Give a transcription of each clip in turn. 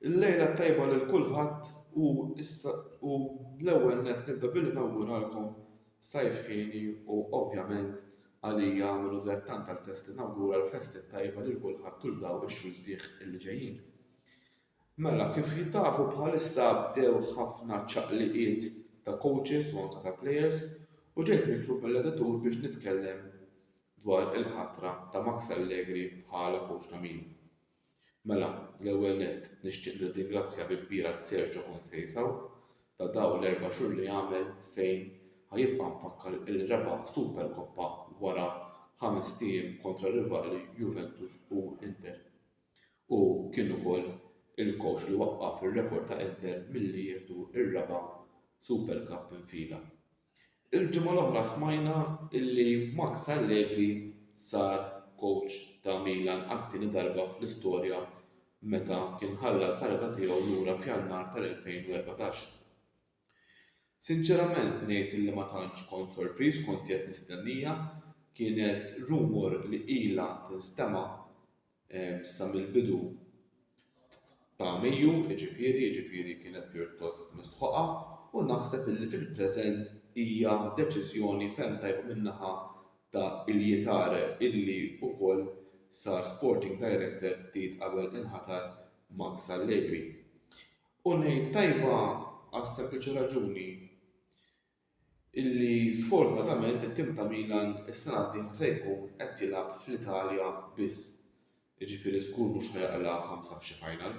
Il-lejla t-tajba lil kulħadd u issa u l-ewwel nett nibda billi nawguralkom Sajf Hieni u ovvjament għalija minnu tgħid tant tal-festi nawgura l-festi t-tajba lil kulħadd tul daw ix-xhur sbieħ illi ġejjin. Mela kif tafu bħalissa bdew ħafna ċaqliqiet ta' coaches u anke ta' players u ġejt mitlub mill-editur biex nitkellem dwar il-ħatra ta' Max Allegri bħala coach ta' Milan. Mela, l-ewwel nett, nixtieq nirringrazzja bi kbir għal Sergio Conceição ta' dawn l-erba' xhur li għamel fejn ħa jibqa' mfakkar li rebaħ Superkoppa wara ħamest ijiem kontra r-rivali Juventus u Inter. Hu kien ukoll il-kowċ li waqqaf ir-rekord ta' Inter milli jieħdu r-raba' Supercup minn fila. Il-ġimgħa l-oħra smajna li Max Allegri sar kowċ ta' Milan għat-tieni darba fl-istorja meta kien ħalla l-kariga tiegħu lura f'Jannar tal-2014. Sinċerament ngħid li ma tantx kont sorpriż kont qiegħed nistennija, kienet rumour li ilha tinstema' sa mill-bidu ta' Mejju, jiġifieri, jiġifieri kienet pjuttost mistħoqha u naħseb illi fil-preżent hija deċiżjoni ferm tajba min-naħa ta' Ilie Tare illi wkoll sar Sporting Director ftit qabel inħatar Max Allegri. U ngħid tajba għas-sempliċi raġuni illi sfortunatament it-tim ta' Milan is-sena d-dieħla se jkun qed jilgħab fl-Italja biss, jiġifieri żgur mhux ħa jaqla' ħamsa f'xi final.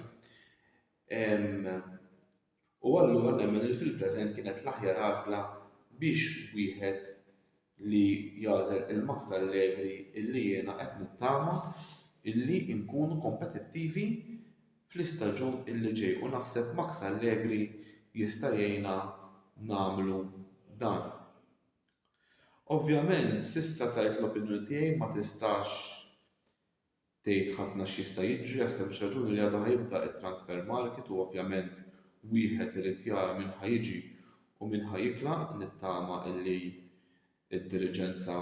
U allura nemmen li fil-preżent kienet l-aħjar għażla biex wieħed li jagħżel il-Max Allegri illi jiena qed nittama illi nkunu kompetittivi fl-istaġun illi ġej u naħseb Max Allegri jista' jgħinna nagħmlu dan. Ovvjament s'issa tajt l-opinjoni tiegħi ma tistax tgħid ħafna x'jista' jiġri għas-sempliċi raġuni li għadu ħa jibda t-transfer market u ovvjament wieħed irid jara min ħa jiġi u min ħa jitlaq, nittama illi d-diriġenza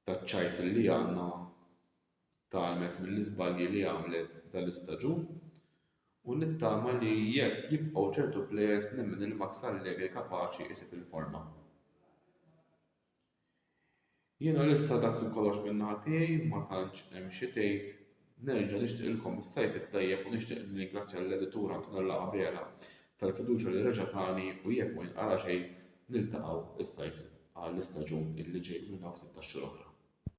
taċċajt li anna tgħallmet mill-iżbalji li għamlet dal-istaġun u nittama li jekk jibqgħu ċertu plejers nemmen li max allegri kapaċi jsib il-forma jiena lesta dak kollox min-naħa tiegħi ma tantx hemm xi tgħid Nerġa' nixtieqilkom is-Sajf it-Tajjeb u nixtieq nirringrazzja lill-Editur Antonella Abela tal-fiduċja li reġa' tani u jekk ma jinqala' xejn niltaqgħu s-Sajf għall-istaġun li ġej u nilmgħu ftit tax-xogħol oħra.